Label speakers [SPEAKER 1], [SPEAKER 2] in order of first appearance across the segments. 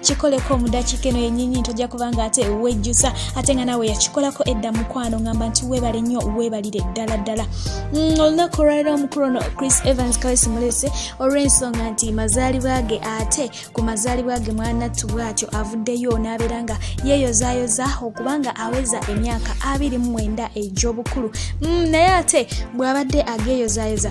[SPEAKER 1] kikoleko omudakiika eno yenyinyi ntojja kubanga ate wejjusa ate nga naawe yakikolako edda mukwano ngamba nti webale nnyo webalire ddala ddala mm, olunaku olwaliro omukulu ono chris evans kawesi mulese olw'ensonga nti mazaalibwa ge ate ku mazaalibwa ge mwanattu bwatyo avuddeyo n'abeera nga yeeyozayoza okubanga aweza emyaka abiri mu mwenda egy'obukulu mm, naye ate bw'abadde ageeyozayoza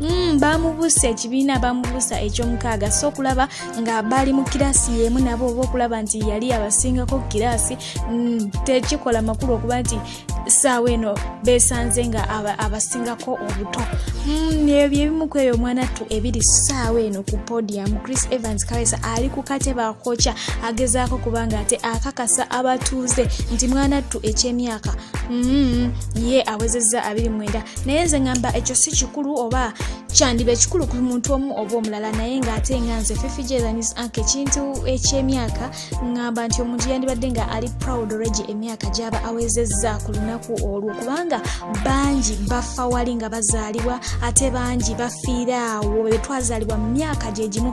[SPEAKER 1] Mm, bamubusa ekibiina bamubusa ekyomukaaga so okulaba nga bali mu kiraasi yemu nabo oba okulaba nti yali abasingako kiraasi mm, tekikola makulu okuba nti saawa eno besanze nga abasingako obuto mm, ebyo ebimu ku eyo omwana ttu ebiri saawa eno ku podium chris evans kawesa ali ku kate bakoca agezaako kubanga ate akakasa abatuuze nti mwana ttu ekyemyaka mm, ye awezezza abiri mwenda naye nze ngamba ekyo si kikulu oba kyandiba ekikulu ku muntu omu oba omulala naye ngaate nga nze fifijeanis ank ekintu ekyemyaka ngamba nti omuntu yandibadde nga ali proud regi emyaka gyaba awezezza ku lunaku olwo kubanga bangi bafa wali nga bazaalibwa ate bangi bafiiraawo bebetwazaalibwa mu myaka gyegimu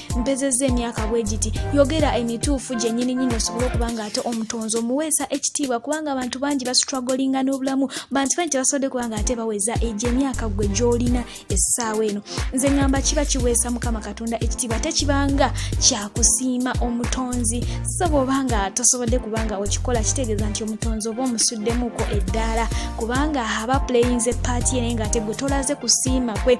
[SPEAKER 1] mpezezza emyaka bwe giti yogera emituufu gyenyini nyini osobole okuba nga ate omutonzi omuweesa ekitiibwa kubanga abantu bangi bastragolinga n'obulamu bantu bangi tebasobodde kuba nga ate baweza egyo emyaka gwe gy'olina essaawa eno nze ŋŋamba kiba kiweesa mukama katonda ekitiibwa ate kibanga kyakusiima omutonzi so bw'oba nga tosobodde kuba nga okikola kitegeeza nti omutonzi oba omusuddemuuko eddaala kubanga aba puleyinze paati ye naye ng'ate gwe tolaze kusiima kwe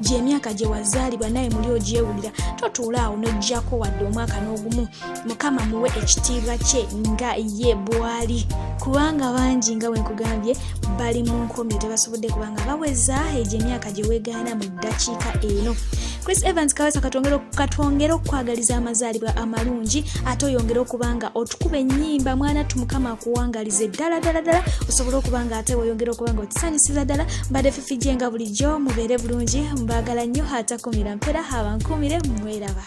[SPEAKER 1] gyemyaka gye wazaalibwa naye muli ogyewulira totuula awo n'oggyako wadde omwaka n'ogumu mukama muwe ekitiibwa kye nga ye bwali kubanga bangi nga wenkugambye bali mu nkomyo tebasobodde kubanga baweza egyo emyaka gye wegaana mu ddakiika eno chris evans kawesa katwongere okukwagaliza amazaalibwa amalungi ate oyongere okuba nga otukuba ennyimba mwana tumukama akuwangalize ddala ddala ddala osobole okuba nga ate weyongere okuba nga otisanyusiza ddala mbadde fijje nga bulijjo mubeere bulungi mbaagala nnyo atakumira mpera abankuumire mweraba